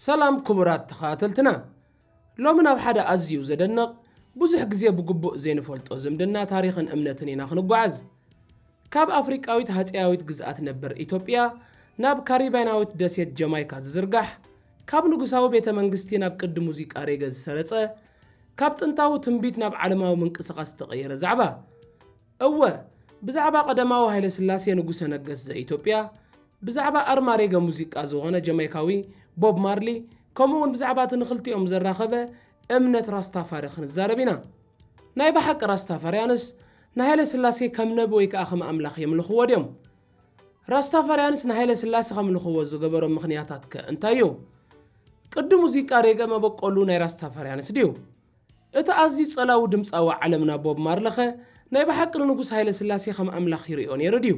ሰላም ክቡራት ተኸታተልትና ሎሚ ናብ ሓደ ኣዝዩ ዘደንቕ ብዙሕ ግዜ ብግቡእ ዘይንፈልጦ ዝምድና ታሪኽን እምነትን ኢና ክንጓዓዝ ካብ ኣፍሪቃዊት ሃጸያዊት ግዝኣት ነበር ኢትዮጵያ ናብ ካሪባይናዊት ደሴት ጀማይካ ዝዝርጋሕ ካብ ንጉሳዊ ቤተ መንግስቲ ናብ ቅዲ ሙዚቃ ሬገ ዝሰረጸ፣ ካብ ጥንታዊ ትንቢት ናብ ዓለማዊ ምንቅስቓስ ዝተቐየረ ዛዕባ። እወ፣ ብዛዕባ ቀደማዊ ሃይለስላሴ ንጉሰ ነገስት ዘኢትዮጵያ፣ ብዛዕባ ኣርማ ሬገ ሙዚቃ ዝዀነ ጀማይካዊ ቦብ ማርሊ፣ ከምኡውን ብዛዕባ እቲ ንኽልቲኦም ዘራኸበ እምነት ራስታፋሪ ክንዛረብ ኢና። ናይ ብሓቂ ራስታፋርያንስ ንሃይለስላሴ ከም ነቢ ወይ ከኣ ከም ኣምላኽ የምልኽዎ ድዮም? ራስታፋርያንስ ንሃይለስላሰ ከምልኽዎ ዝገበሮም ምኽንያታት ከ እንታይ እዩ? ቅዲ ሙዚቃ ሬገ መበቆሉ ናይ ራስታፋርያንስ ድዩ? እቲ ኣዝዩ ጸላዊ ድምጻዊ ዓለምና ቦብ ማርለኸ ናይ ብሓቂ ንንጉስ ሃይለስላሴ ከም ኣምላኽ ይርእዮ ነይሩ ድዩ?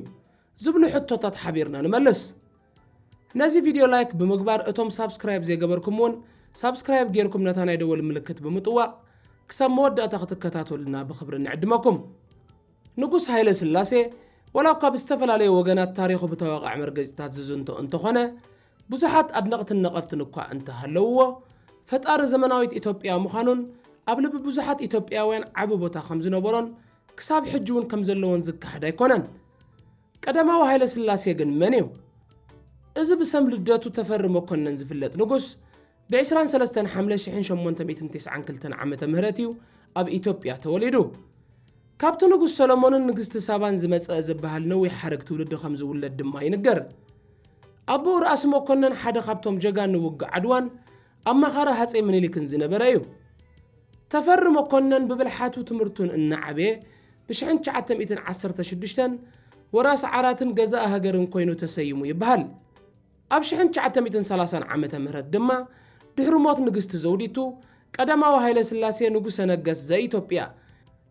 ዝብሉ ሕቶታት ሓቢርና ንመልስ። ነዚ ቪድዮ ላይክ ብምግባር እቶም ሳብስክራይብ ዘይገበርኩም ውን ሳብስክራይብ ጌርኩም ነታ ናይ ደወል ምልክት ብምጥዋቕ ክሳብ መወዳእታ ክትከታተሉና ብኽብሪ ንዕድመኩም። ንጉስ ሃይለስላሴ ዋላ እኳ ብዝተፈላለዩ ወገናት ታሪኹ ብተወቓዕ መርገጺታት ዝዝንቶ እንተኾነ፣ ብዙሓት ኣድነቕትን ነቐፍትን እኳ እንተሃለዉዎ፣ ፈጣሪ ዘመናዊት ኢትዮጵያ ምዃኑን ኣብ ልቢ ብዙሓት ኢትዮጵያውያን ዓቢ ቦታ ከምዝነበሮን ክሳብ ሕጂ'ውን ከምዘለዎን ዝከሓድ ኣይኮነን። ቀዳማዊ ሃይለስላሴ ግን መን'ዩ? እዚ ብሰም ልደቱ ተፈሪ መኮነን ዝፍለጥ ንጉስ፣ ብ ዕስራን ሰለስተን ሓምለ ሽሕን ሸሞንተ ሚእትን ቴስዓን ክልተን ዓመተ ምህረት እዩ ኣብ ኢትዮጵያ ተወሊዱ። ካብቲ ንጉስ ሰሎሞንን ንግስቲ ሳባን ዝመጸ ዝበሃል ነዊሕ ሓረግ ትውልዲ ከም ዝውለድ ድማ ይንገር። ኣቦኡ ራእሲ መኮነን ሓደ ካብቶም ጀጋኑ ውግእ ዓድዋን ኣማኻሪ ሃጸይ ምኒሊክን ዝነበረ እዩ። ተፈሪ መኮነን ብብልሓቱ ትምህርቱን እናዓበየ ብ ሽሕን ትሽዓተ ሚእትን ዓሰርተ ሽዱሽተን ወራሲ ዓራትን ገዛኢ ሃገርን ኮይኑ ተሰይሙ ይበሃል። ኣብ ሽሕን ትሽዓተ ሚእትን ሰላሳን ዓመተ ምህረት ድማ ድሕሪ ሞት ንግስቲ ዘውዲቱ ቀዳማዊ ሃይለስላሴ ንጉሠ ነገሥት ዘኢትዮጵያ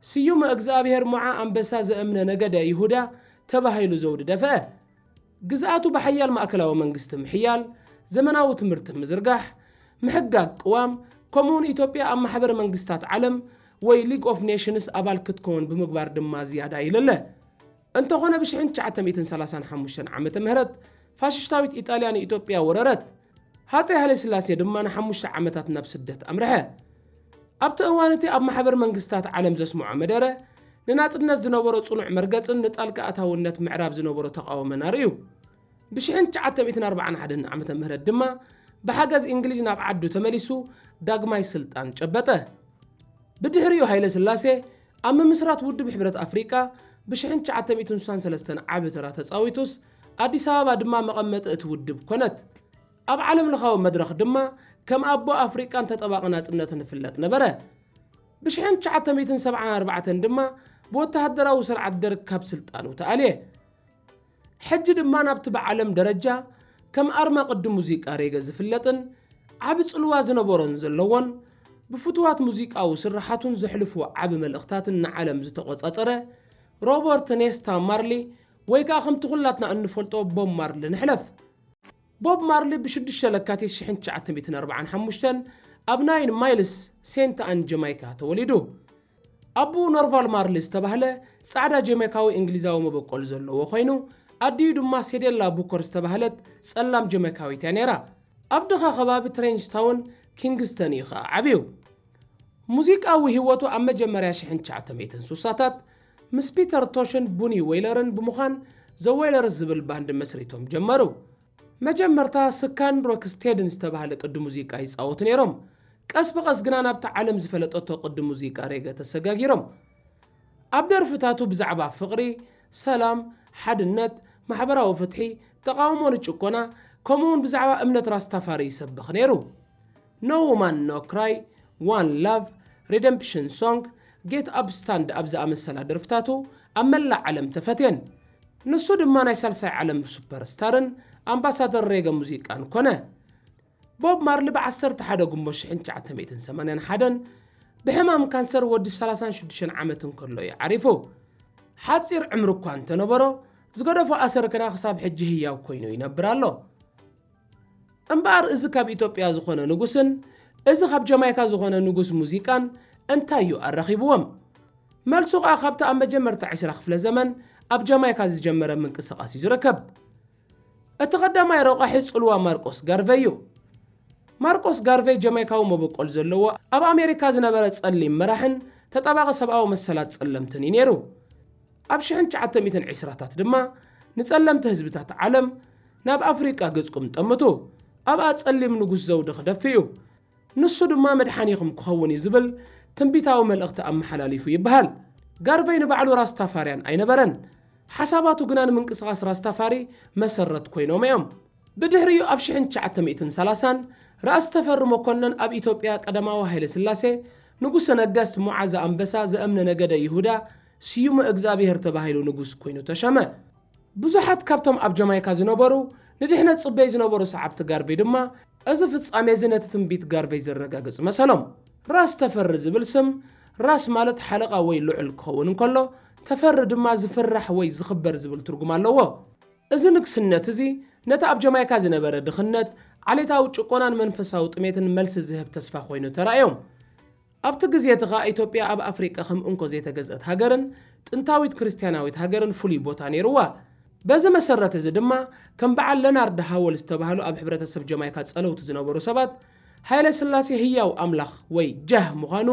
ስዩመ እግዝኣብሔር ሞዓ ኣንበሳ ዘእምነ ነገደ ይሁዳ ተባሂሉ ዘውዲ ደፍአ። ግዝኣቱ ብሓያል ማእከላዊ መንግስቲ ምሕያል፣ ዘመናዊ ትምህርቲ ምዝርጋሕ፣ ምሕጋግ ቅዋም፣ ከምኡውን ኢትዮጵያ ኣብ ማሕበር መንግስታት ዓለም ወይ ሊግ ኦፍ ኔሽንስ ኣባል ክትከውን ብምግባር ድማ ዝያዳ ይለለ። እንተኾነ ብ ሽሕን ትሽዓተ ሚእትን ሰላሳን ሓሙሽተን ዓመተ ምህረት ፋሽሽታዊት ኢጣልያ ንኢትዮጵያ ወረረት። ሃጸይ ሃይለስላሴ ድማ ንሓሙሽተ ዓመታት ናብ ስደት ኣምርሐ። ኣብቲ እዋን እቲ ኣብ ማሕበር መንግስታት ዓለም ዘስምዖ መደረ፣ ንናጽነት ዝነበሮ ጽኑዕ መርገጽን ንጣልቃ ኣታውነት ምዕራብ ዝነበሮ ተቓውመን ኣርእዩ። ብ ሽሕን ትሽዓተ ሚእትን ኣርብዓን ሓደን ዓመተ ምህረት ድማ ብሓገዝ እንግሊዝ ናብ ዓዱ ተመሊሱ ዳግማይ ስልጣን ጨበጠ። ብድሕሪኡ ሃይለስላሴ ኣብ ምምስራት ውድብ ሕብረት ኣፍሪቃ ብሽሕን ትሽዓተ ሚእትን ስሳን ሰለስተን ዓቢ ተራ ተጻዊቱስ፣ ኣዲስ ኣበባ ድማ መቐመጢ እቲ ውድብ ኮነት። ኣብ ዓለምለኻዊ መድረኽ ድማ ከም ኣቦ ኣፍሪቃን ተጠባቒ ናጽነትን ይፍለጥ ነበረ። ብሽሕን ትሽዓተ ሚእትን ሰብዓን ኣርባዕተን ድማ ብወተሃደራዊ ስርዓት ደርግ ካብ ስልጣኑ ተኣልየ። ሕጂ ድማ ናብቲ ብዓለም ደረጃ ከም ኣርማ ቅዲ ሙዚቃ ሬገ ዝፍለጥን ዓቢ ጽልዋ ዝነበሮን ዘለዎን ብፍቱዋት ሙዚቃዊ ስርሓቱን ዘሕልፎ ዓቢ መልእኽታትን ንዓለም ዝተቖጻጸረ ሮበርት ኔስታ ማርሊ ወይ ከኣ ከምቲ ኩላትና እንፈልጦ ቦብ ማርሊ ንሕለፍ። ቦብ ማርሊ ብ ሽዱሽተ ለካቲት ሽሕን ትሽዓተ ሚእትን ኣርብዓን ሓሙሽተን ኣብ ናይን ማይልስ፣ ሴንት ኣን ጀማይካ ተወሊዱ። ኣቡኡ ኖርቫል ማርሊ ዝተባህለ ጻዕዳ ጀማይካዊ እንግሊዛዊ መበቆል ዘለዎ ኮይኑ፣ ኣዲኡ ድማ ሴዴላ ቡከር ዝተባህለት ጸላም ጀማይካዊት እያ ነይራ። ኣብ ድኻ ከባቢ ትሬንጅታውን፣ ኪንግስተን፣ እዩ ከኣ ዓብዩ። ሙዚቃዊ ህይወቱ ኣብ መጀመርያ ሽሕን ትሽዓተ ሚእትን ስሳታት ምስ ፒተር ቶሽን ቡኒ ዌይለርን ብምዃን ዘ ዌይለርስ ዝብል ባንድ መስሪቶም ጀመሩ። መጀመርታ ስካን ሮክስቴድን ዝተባህለ ቅዲ ሙዚቃ ይጻወቱ ነይሮም፣ ቀስ ብቐስ ግና ናብታ ዓለም ዝፈለጠቶ ቅዲ ሙዚቃ ሬገ ተሰጋጊሮም። ኣብ ደርፍታቱ ብዛዕባ ፍቕሪ፣ ሰላም፣ ሓድነት፣ ማሕበራዊ ፍትሒ፣ ተቓውሞ ንጭቆና፣ ከምኡ'ውን ብዛዕባ እምነት ራስታፋሪ ይሰብኽ ነይሩ። ኖ ዉማን ኖ ክራይ፣ ዋን ላቭ፣ ሪደምፕሽን ሶንግ፣ ጌት ኣፕ ስታንድ ኣፕ ዝኣመሰላ ደርፍታቱ ኣብ መላእ ዓለም ተፈትየን። ንሱ ድማ ናይ ሳልሳይ ዓለም ሱፐር ስታርን ኣምባሳደር ሬገ ሙዚቃን ኮነ። ቦብ ማርሊ ብ ዓሰርተ ሓደ ግንቦት ሽሕን ትሽዓተ ሚእትን ሰማንያን ሓደን ብሕማም ካንሰር ወዲ ሰላሳን ሽዱሽተን ዓመት እንከሎ እዩ ዓሪፉ። ሓጺር ዕምሪ እኳ እንተነበሮ፣ ዝገደፎ ኣሰር ግና ክሳብ ሕጂ ህያው ኮይኑ ይነብር ኣሎ። እምበኣር እዚ ካብ ኢትዮጵያ ዝኾነ ንጉስን እዚ ካብ ጀማይካ ዝኾነ ንጉስ ሙዚቃን እንታይ እዩ ኣራኺብዎም? መልሱ ከኣ ካብቲ ኣብ መጀመርታ ዕስራ ክፍለ ዘመን ኣብ ጀማይካ ዝጀመረ ምንቅስቓስ እዩ ዝርከብ። እቲ ቀዳማይ ረቋሒ ጽልዋ ማርቆስ ጋርቨይ እዩ። ማርቆስ ጋርቨይ ጀማይካዊ መበቆል ዘለዎ ኣብ ኣሜሪካ ዝነበረ ጸሊም መራሕን ተጣባቒ ሰብኣዊ መሰላት ጸለምትን እዩ ነይሩ። ኣብ ሽሕን ትሽዓተ ሚእትን ዕስራታት ድማ ንጸለምቲ ህዝብታት ዓለም ናብ ኣፍሪቃ ገጽኩም ጠምቱ፣ ኣብኣ ጸሊም ንጉስ ዘውዲ ክደፍእ እዩ፣ ንሱ ድማ መድሓኒኹም ክኸውን እዩ ዝብል ትንቢታዊ መልእኽቲ ኣመሓላሊፉ ይበሃል። ጋርቨይ ንባዕሉ ራስታፋርያን ኣይነበረን፣ ሓሳባቱ ግና ንምንቅስቓስ ራስታፋሪ መሰረት ኮይኖም እዮም። ብድሕሪኡ ኣብ ሽሕን ትሽዓተ ሚእትን ሰላሳን ራእሲ ተፈሪ መኮነን ኣብ ኢትዮጵያ ቀዳማዊ ሃይለስላሴ፣ ንጉሰ ነገስት ሞዓ ዘኣንበሳ ዘእምነ ነገደ ይሁዳ ስዩመ እግዝኣብሄር ተባሂሉ ንጉስ ኮይኑ ተሸመ። ብዙሓት ካብቶም ኣብ ጀማይካ ዝነበሩ ንድሕነት ጽበዩ ዝነበሩ ሰዓብቲ ጋርቨይ ድማ እዚ ፍጻሜ'ዚ ነቲ ትንቢት ጋርቨይ ዘረጋግጽ መሰሎም። ራስ ተፈሪ ዝብል ስም፣ ራስ ማለት ሓለቓ ወይ ልዑል ክኸውን እንከሎ፣ ተፈሪ ድማ ዝፍራሕ ወይ ዝኽበር ዝብል ትርጉም ኣለዎ። እዚ ንግስነት'ዚ ነቲ ኣብ ጀማይካ ዝነበረ ድኽነት፣ ዓሌታዊ ጭቆናን መንፈሳዊ ጥሜትን መልሲ ዝህብ ተስፋ ኮይኑ ተራእዮም። ኣብቲ ግዜ እቲ ኸኣ ኢትዮጵያ ኣብ ኣፍሪቃ ከም እንኮ ዘይተገዝእት ሃገርን ጥንታዊት ክርስትያናዊት ሃገርን ፍሉይ ቦታ ነይሩዋ። በዚ መሰረት እዚ ድማ ከም በዓል ለናርድ ሃወል ዝተባህሉ ኣብ ሕብረተሰብ ጀማይካ ጸለውቲ ዝነበሩ ሰባት ሃይለስላሴ ህያው ኣምላኽ ወይ ጃህ ምዃኑ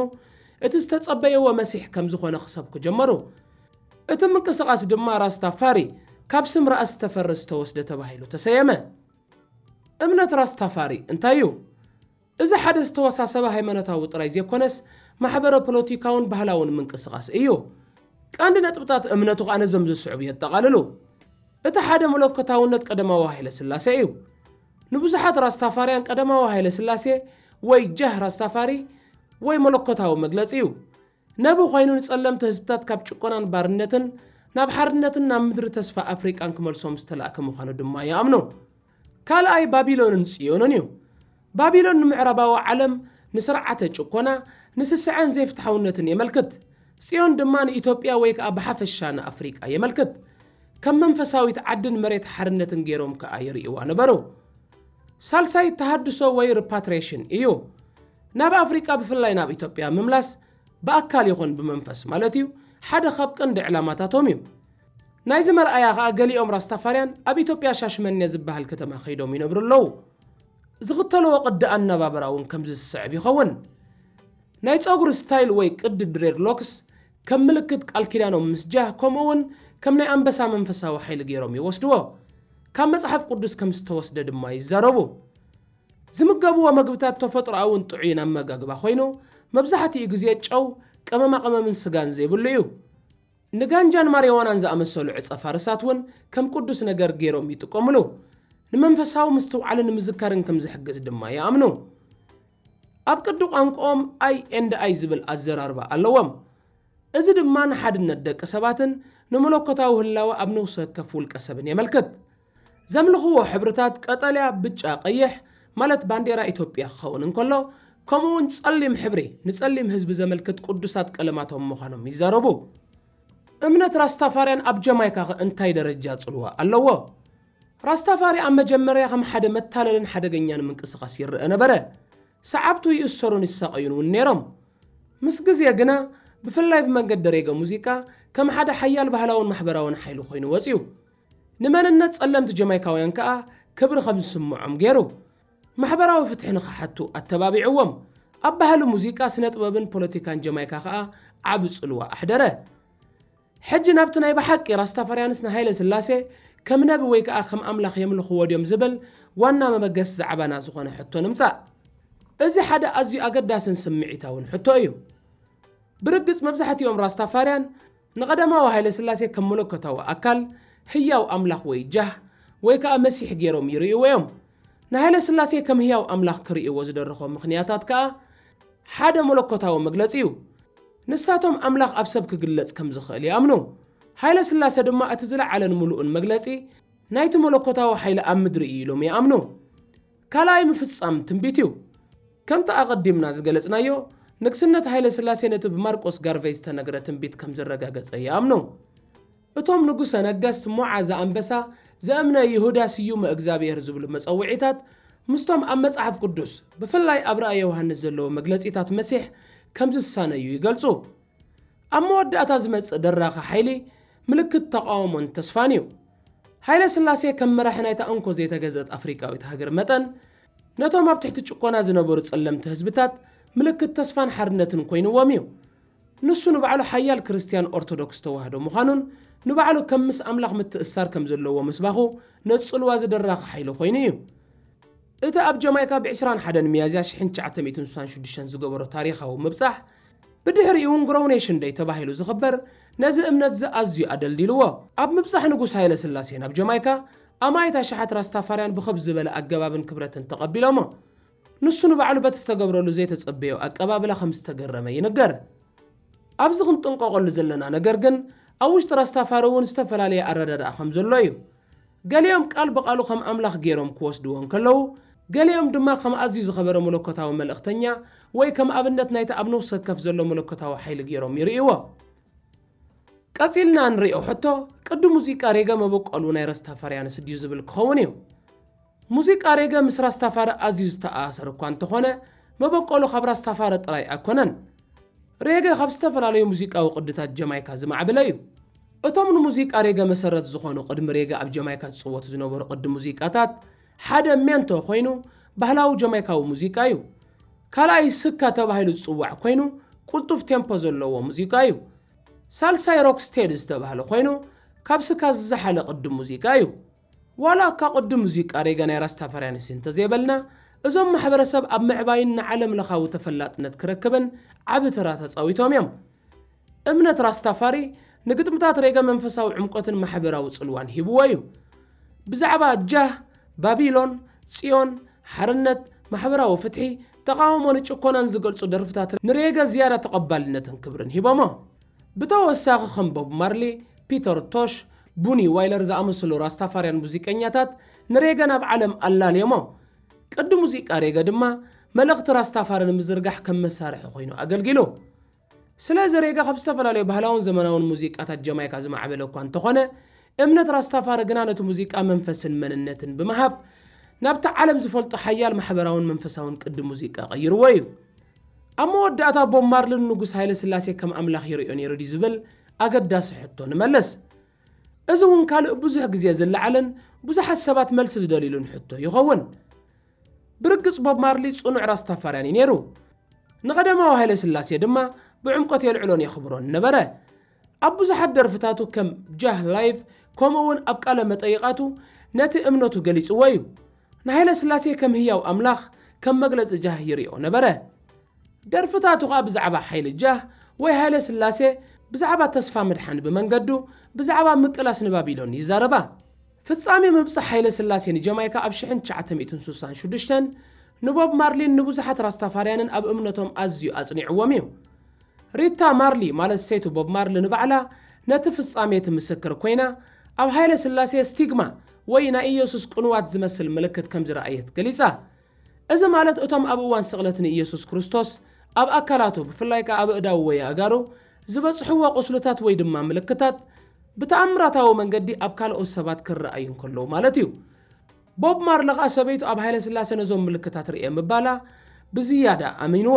እቲ ዝተጸበየዎ መሲሕ ከም ዝኾነ ክሰብኩ ጀመሩ። እቲ ምንቅስቓስ ድማ ራስታ ፋሪ ካብ ስም ራእስ ዝተፈርስ ዝተወስደ ተባሂሉ ተሰየመ። እምነት ራስታፋሪ እንታይ እዩ? እዚ ሓደ ዝተወሳሰበ ሃይማኖታዊ ጥራይ ዘይኮነስ ማሕበረ-ፖለቲካውን ባህላውን ምንቅስቓስ እዩ። ቀንዲ ነጥብታት እምነቱ ከኣ ነዞም ዝስዕቡ የጠቓልሉ። እቲ ሓደ መለኮታውነት ቀደማዊ ሃይለስላሴ እዩ። ንብዙሓት ራስታፋርያን ቀደማዊ ሃይለስላሴ ወይ ጃህ ራስታፋሪ ወይ መለኮታዊ መግለጺ እዩ። ነቢ ኮይኑ ንጸለምቲ ህዝብታት ካብ ጭቆናን ባርነትን ናብ ሓርነትን ናብ ምድሪ ተስፋ ኣፍሪቃን ክመልሶም ዝተላእከ ምዃኑ ድማ ይኣምኑ። ካልኣይ ባቢሎንን ጽዮንን እዩ። ባቢሎን ንምዕራባዊ ዓለም ንስርዓተ ጭኮና፣ ንስስዐን ዘይፍትሓውነትን የመልክት። ጽዮን ድማ ንኢትዮጵያ ወይ ከኣ ብሓፈሻ ንኣፍሪቃ የመልክት። ከም መንፈሳዊት ዓድን መሬት ሓርነትን ገይሮም ከኣ ይርእይዋ ነበሩ። ሳልሳይ ተሃድሶ ወይ ርፓትሬሽን እዩ። ናብ ኣፍሪቃ ብፍላይ ናብ ኢትዮጵያ ምምላስ ብኣካል ይኹን ብመንፈስ ማለት እዩ ሓደ ካብ ቀንዲ ዕላማታቶም እዩ። ናይዚ መርኣያ ከኣ ገሊኦም ራስታፋርያን ኣብ ኢትዮጵያ ሻሽመኔ ዝበሃል ከተማ ከይዶም ይነብሩ ኣለዉ። ዝኽተልዎ ቅዲ ኣነባብራ እውን ከምዚ ዝስዕብ ይኸውን። ናይ ጸጉሪ ስታይል ወይ ቅዲ ድሬድሎክስ ከም ምልክት ቃል ኪዳኖም ምስ ጃህ ከምኡ እውን ከም ናይ ኣንበሳ መንፈሳዊ ሓይሊ ገይሮም ይወስድዎ። ካብ መጽሓፍ ቅዱስ ከም ዝተወስደ ድማ ይዛረቡ። ዝምገብዎ መግብታት ተፈጥሮኣውን ጥዑይን ኣመጋግባ ኮይኑ መብዛሕትኡ ግዜ ጨው፣ ቀመማቐመምን ስጋን ዘይብሉ እዩ። ንጋንጃን ማሪዋናን ዝኣመሰሉ ዕጸ ፋርሳት እውን ከም ቅዱስ ነገር ገይሮም ይጥቀሙሉ። ንመንፈሳዊ ምስትውዓልን ንምዝካርን ከም ዝሕግዝ ድማ ይኣምኑ። ኣብ ቅዲ ቋንቋኦም ኣይ ኤንድ ኣይ ዝብል ኣዘራርባ ኣለዎም። እዚ ድማ ንሓድነት ደቂ ሰባትን ንመለኮታዊ ህላወ ኣብ ነፍሲ ወከፍ ውልቀ ሰብን የመልክት። ዘምልኽዎ ሕብርታት ቀጠልያ፣ ብጫ፣ ቀይሕ፣ ማለት ባንዴራ ኢትዮጵያ ክኸውን እንከሎ፣ ከምኡ'ውን ጸሊም ሕብሪ፣ ንጸሊም ህዝቢ ዘመልክት ቅዱሳት ቀለማቶም ምዃኖም ይዛረቡ። እምነት ራስታፋርያን ኣብ ጀማይካ'ኸ እንታይ ደረጃ ጽልዋ ኣለዎ? ራስታፋሪ ኣብ መጀመርያ ከም ሓደ መታለልን ሓደገኛን ምንቅስቓስ ይረኣ ነበረ። ሰዓብቱ ይእሰሩን ይሳቐዩን እውን ነይሮም። ምስ ግዜ ግና፣ ብፍላይ ብመንገዲ ሬገ ሙዚቃ፣ ከም ሓደ ሓያል ባህላውን ማሕበራውን ሓይሊ ኮይኑ ወጺኡ። ንመንነት ጸለምቲ ጀማይካውያን ከኣ ክብሪ ከም ዝስምዖም ገይሩ፣ ማሕበራዊ ፍትሒ ንኽሓቱ ኣተባቢዕዎም። ኣብ ባህሊ ሙዚቃ፣ ስነጥበብን ፖለቲካን ጀማይካ ከኣ ዓቢ ጽልዋ ኣሕደረ። ሕጂ ናብቲ ናይ ብሓቂ ራስታፋርያንስ ንሃይለስላሴ ከም ነቢ ወይ ከኣ ከም ኣምላኽ የምልኽዎ ድዮም ዝብል ዋና መበገሲ ዛዕባና ዝኾነ ሕቶ ንምጻእ። እዚ ሓደ ኣዝዩ ኣገዳስን ስምዒታውን ሕቶ እዩ። ብርግጽ መብዛሕትኦም ራስታፋርያን፣ ንቀዳማዊ ሃይለስላሴ ከም መለኮታዊ ኣካል፣ ህያው ኣምላኽ ወይ ጃህ፣ ወይ ከኣ መሲሕ ገይሮም ይርእይዎ እዮም። ንሃይለስላሴ ከም ህያው ኣምላኽ ክርእይዎ ዝደረኾም ምኽንያታት ከኣ ሓደ መለኮታዊ መግለጺ እዩ። ንሳቶም ኣምላኽ ኣብ ሰብ ክግለጽ ከም ዝኽእል ይኣምኑ። ሃይለስላሰ ድማ እቲ ዝለዓለን ምሉእን መግለጺ ናይቲ መለኮታዊ ሓይሊ ኣብ ምድሪ እዩ ኢሎም ይኣምኑ። ካልኣይ ምፍጻም ትንቢት እዩ። ከምቲ ኣቐዲምና ዝገለጽናዮ፣ ንግስነት ሃይለስላሴ ነቲ ብማርቆስ ጋርቨይ ዝተነግረ ትንቢት ከም ዝረጋገጸ ይኣምኑ። እቶም ንጉሰ ነገስት ሞዓ ዘኣንበሳ፣ ዘእምነ ይሁዳ ስዩመ እግዝኣብሔር ዝብሉ መጸውዒታት ምስቶም ኣብ መጽሓፍ ቅዱስ ብፍላይ ኣብ ራእየ ዮሃንስ ዘለዉ መግለጺታት መሲሕ ከም ዝሳነዩ ይገልጹ። ኣብ መወዳእታ ዝመጽእ ደራኺ ሓይሊ ምልክት ተቓውሞን ተስፋን እዩ። ሃይለስላሴ ከም መራሒ ናይታ እንኮ ዘይተገዝእት ኣፍሪቃዊት ሃገር መጠን፣ ነቶም ኣብ ትሕቲ ጭቆና ዝነበሩ ጸለምቲ ህዝብታት ምልክት ተስፋን ሓርነትን ኮይንዎም እዩ። ንሱ ንባዕሉ ሓያል ክርስትያን ኦርቶዶክስ ተዋህዶ ምዃኑን ንባዕሉ ከም ምስ ኣምላኽ ምትእስሳር ከም ዘለዎ ምስባኹ ነጽልዋ እዚ ደራኺ ሓይሊ ኮይኑ እዩ። እቲ ኣብ ጀማይካ ብ ዕስራን ሓደን ሚያዝያ ሽሕን ትሽዓተ ሚእትን ስሳን ሽዱሽተን ዝገበሮ ታሪኻዊ ምብጻሕ፣ ብድሕሪኡ እንግሮው ኔሽን ደይ ተባሂሉ ዝኽበር ነዚ እምነት'ዚ ኣዝዩ ኣደልዲልዎ። ኣብ ምብጻሕ ንጉስ ሃይለስላሴ ናብ ጀማይካ፣ ኣማኢት ኣሽሓት ራስታፋርያን ብኸብ ዝበለ ኣገባብን ክብረትን ተቐቢሎሞ። ንሱ ንባዕሉ በቲ ዝተገብረሉ ዘይተጸበዮ ኣቀባብላ ከም ዝተገረመ ይንገር። ኣብዚ ክንጥንቀቐሉ ዘለና ነገር ግን ኣብ ውሽጢ ራስታፋሪ እውን ዝተፈላለየ ኣረዳድኣ ከም ዘሎ እዩ። ገሊኦም ቃል ብቓሉ ኸም ኣምላኽ ገይሮም ኪወስድዎ እንከለዉ፣ ገሊኦም ድማ ከም ኣዝዩ ዝኸበረ መለኮታዊ መልእኽተኛ ወይ ከም ኣብነት ናይቲ ኣብ ነፍሲ ወከፍ ዘሎ መለኮታዊ ሓይሊ ገይሮም ይርእይዎ። ቀጺልና እንርእዮ ሕቶ፣ ቅዲ ሙዚቃ ሬገ መበቈሉ ናይ ራስታፋርያንስ ድዩ ዝብል ኪኸውን እዩ። ሙዚቃ ሬገ ምስ ራስታፋሪ ኣዝዩ ዝተኣሳሰር እኳ እንተኾነ፣ መበቆሉ ካብ ራስታፋሪ ጥራይ ኣይኮነን። ሬገ ካብ ዝተፈላለዩ ሙዚቃዊ ቅድታት ጀማይካ ዝማዕብለ እዩ። እቶም ንሙዚቃ ሬገ መሰረት ዝኾኑ ቅድሚ ሬገ ኣብ ጀማይካ ዝጽወቱ ዝነበሩ ቅዲ ሙዚቃታት፣ ሓደ ሜንቶ ኮይኑ ባህላዊ ጀማይካዊ ሙዚቃ እዩ። ካልኣይ ስካ ተባሂሉ ዝጽዋዕ ኮይኑ ቅልጡፍ ቴምፖ ዘለዎ ሙዚቃ እዩ። ሳልሳይ ሮክስቴዲ ዝተባህለ ኮይኑ ካብ ስካ ዝዘሓለ ቅዲ ሙዚቃ እዩ። ዋላ እካ ቅድም እዙይ ቃሬገ ናይ ራስታፋርያንስ እንተዘይበልና እዞም ማሕበረሰብ ኣብ ምዕባይን ንዓለም ለኻዊ ተፈላጥነት ክረክብን ዓቢ ተራ ተጻዊቶም እዮም። እምነት ራስታፋሪ ንግጥምታት ሬገ መንፈሳዊ ዕምቆትን ማሕበራዊ ጽልዋን ሂብዎ እዩ። ብዛዕባ ጃህ፣ ባቢሎን፣ ጽዮን፣ ሓርነት፣ ማሕበራዊ ፍትሒ፣ ተቓውሞ ንጭኮናን ዝገልጹ ደርፍታት ንሬገ ዝያዳ ተቐባልነትን ክብርን ሂቦሞ። ብተወሳኺ ከም ቦብ ማርሊ፣ ፒተር ቶሽ፣ ቡኒ ዋይለር ዝኣመሰሉ ራስታፋርያን ሙዚቀኛታት ንሬገ ናብ ዓለም ኣላልዮሞ። ቅዲ ሙዚቃ ሬገ ድማ መልእኽቲ ራስታፋሪ ንምዝርጋሕ ከም መሳርሒ ኰይኑ ኣገልጊሉ። ስለዚ ሬገ ካብ ዝተፈላለዩ ባህላውን ዘመናውን ሙዚቃታት ጀማይካ ዝማዕበለ እኳ እንተዀነ፣ እምነት ራስታፋሪ ግና ነቲ ሙዚቃ መንፈስን መንነትን ብምሃብ ናብቲ ዓለም ዝፈልጦ ሓያል ማሕበራውን መንፈሳውን ቅዲ ሙዚቃ ቀይርዎ እዩ። ኣብ መወዳእታ ቦብ ማርሊ ንንጉስ ሃይለስላሴ ከም ኣምላኽ ይርእዮ ነይሩ ድዩ ዝብል ኣገዳሲ ሕቶ ንመልስ። እዚ እውን ካልእ ብዙሕ ግዜ ዝለዓልን ብዙሓት ሰባት መልሲ ዝደልዩሉን ሕቶ ይኸውን። ብርግጽ ቦብ ማርሊ ጽኑዕ ራስታፋርያን እዩ ነይሩ። ንቀዳማዊ ሃይለስላሴ ድማ ብዕምቆት የልዕሎን የኽብሮን ነበረ። ኣብ ብዙሓት ደርፍታቱ ከም ጃህ ላይቭ ከምኡ'ውን ኣብ ቃለ መጠይቓቱ ነቲ እምነቱ ገሊጽዎ እዩ። ንሃይለስላሴ ከም ህያው ኣምላኽ ከም መግለጺ ጃህ ይርእዮ ነበረ። ደርፍታቱ ከኣ ብዛዕባ ሓይሊ ጃህ ወይ ሃይለስላሴ፣ ብዛዕባ ተስፋ ምድሓን ብመንገዱ፣ ብዛዕባ ምቅላስ ንባቢሎን ይዛረባ። ፍጻሜ ምብጻሕ ሃይለስላሴ ንጀማይካ ኣብ ሽሕን ትሽዓተ ሚእትን ስሳን ሽዱሽተን ንቦብ ማርሊን ንብዙሓት ራስታፋርያንን ኣብ እምነቶም ኣዝዩ ኣጽኒዕዎም እዩ። ሪታ ማርሊ ማለት ሰይቲ ቦብ ማርሊ ንባዕላ ነቲ ፍጻሜ ትምስክር ኰይና፣ ኣብ ሃይለስላሴ ስቲግማ ወይ ናይ ኢየሱስ ቅኑዋት ዝመስል ምልክት ከም ዝረኣየት ገሊጻ። እዚ ማለት እቶም ኣብ እዋን ስቕለት ንኢየሱስ ክርስቶስ ኣብ ኣካላቱ፣ ብፍላይ ከኣ ኣብ ኣእዳዉ ወይ ኣእጋሩ፣ ዝበጽሕዎ ቍስልታት ወይ ድማ ምልክታት ብተኣምራታዊ መንገዲ ኣብ ካልኦት ሰባት ክረኣዩ እንከለዉ ማለት እዩ። ቦብ ማርሊ ኸኣ ሰበይቱ ኣብ ሃይለስላሴ ነዞም ምልክታት ርእየ ምባላ ብዝያዳ ኣሚንዎ።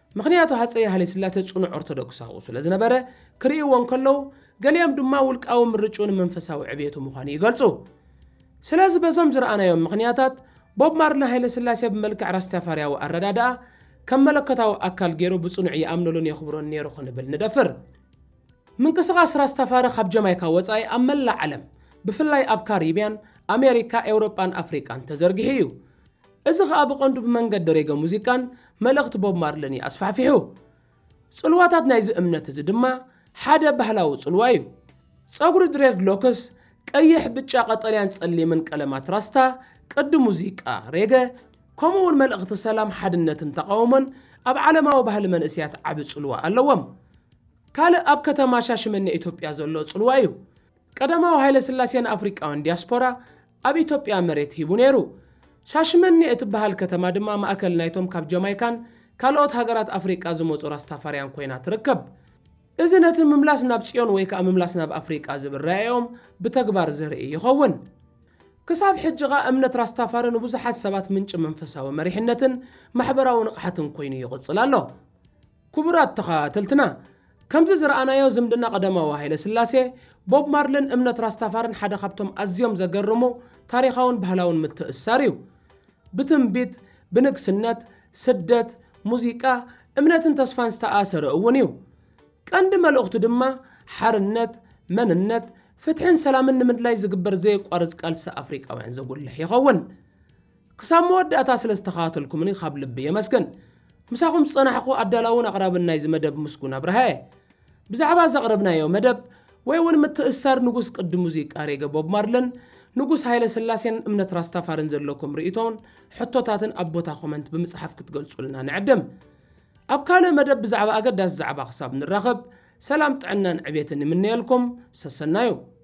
ምኽንያቱ ሃጸይ ሃይለስላሴ ጽኑዕ ኦርቶዶክሳዊ ስለ ዝነበረ ክርእይዎ እንከለዉ፣ ገሊኦም ድማ ውልቃዊ ምርጭኡ ንመንፈሳዊ ዕብየቱ ምዃኑ ይገልጹ። ስለዚ በዞም ዝረኣናዮም ምኽንያታት፣ ቦብ ማርሊ ሃይለስላሴ ብመልክዕ ራስታፋርያዊ ኣረዳድኣ ከም መለኮታዊ ኣካል ገይሩ ብጽኑዕ ይኣምነሉን የኽብሮን ነይሩ ክንብል ንደፍር። ምንቅስቓስ ራስታፋሪ ካብ ጀማይካ ወጻኢ ኣብ መላእ ዓለም ብፍላይ ኣብ ካሪብያን፣ ኣሜሪካ፣ ኤውሮጳን ኣፍሪቃን ተዘርጊሑ እዩ። እዚ ኸኣ ብቐንዱ ብመንገዲ ሬገ ሙዚቃን መልእኽቲ ቦብ ማርለን እዩ ኣስፋሕፊሑ። ጽልዋታት ናይዚ እምነት እዚ ድማ ሓደ ባህላዊ ጽልዋ እዩ። ጸጉሪ ድሬድሎክስ፣ ቀይሕ፣ ብጫ፣ ቀጠልያን ጸሊምን ቀለማት ራስታ፣ ቅዲ ሙዚቃ፣ ሬገ፣ ከምኡ'ውን መልእኽቲ ሰላም፣ ሓድነትን ተቓውሞን ኣብ ዓለማዊ ባህሊ መንእሰያት ዓቢ ጽልዋ ኣለዎም። ካልእ ኣብ ከተማ ሻሽመኔ ኢትዮጵያ ዘሎ ጽልዋ እዩ። ቀዳማዊ ሃይለስላሴ ንኣፍሪቃውያን ዲያስፖራ ኣብ ኢትዮጵያ መሬት ሂቡ ነይሩ። ሻሽመኔ እትበሃል ከተማ ድማ ማእከል ናይቶም ካብ ጃማይካን ካልኦት ሃገራት ኣፍሪቃ ዝመጹ ራስታፋርያን ኮይና ትርከብ። እዚ ነቲ ምምላስ ናብ ጽዮን ወይ ከኣ ምምላስ ናብ ኣፍሪቃ ዝብል ራኢኦም ብተግባር ዘርኢ ይኸውን። ክሳብ ሕጂ ከኣ እምነት ራስታፋሪ ንብዙሓት ሰባት ምንጪ መንፈሳዊ መሪሕነትን ማሕበራዊ ንቕሓትን ኮይኑ ይቕጽል ኣሎ። ክቡራት ተኸታተልትና ከምዚ ዝረኣናዮ ዝምድና ቀዳማዊ ሃይለስላሴ፣ ቦብ ማርልን እምነት ራስታፋርን ሓደ ካብቶም ኣዝዮም ዘገርሙ ታሪኻውን ባህላውን ምትእስሳር እዩ። ብትንቢት፣ ብንግስነት፣ ስደት፣ ሙዚቃ፣ እምነትን ተስፋን ዝተኣሰረ እውን እዩ። ቀንዲ መልእኽቱ ድማ ሓርነት፣ መንነት፣ ፍትሕን ሰላምን ንምድላይ ዝግበር ዘየቋርጽ ቃልሲ ኣፍሪቃውያን ዘጉልሕ ይኸውን። ክሳብ መወዳእታ ስለ ዝተኸታተልኩምኒ ካብ ልቢ የመስግን። ምሳኹም ዝጸናሕኩ ኣዳላውን ኣቕራብን ናይዚ መደብ ምስጉን ኣብርሃየ። ብዛዕባ ዘቕረብናዮ መደብ ወይ እውን ምትእስሳር ንጉስ ቅዲ ሙዚቃ ሬገ ቦብ ማርልን ንጉስ ሃይለ ስላሴን እምነት ራስታፋርን ዘለኩም ርእይቶን ሕቶታትን ኣብ ቦታ ኮመንት ብምጽሓፍ ክትገልጹልና ንዕድም። ኣብ ካልእ መደብ ብዛዕባ ኣገዳሲ ዛዕባ ክሳብ ንራኸብ ሰላም ጥዕናን ዕቤትን ይምነየልኩም። ሰሰናዩ።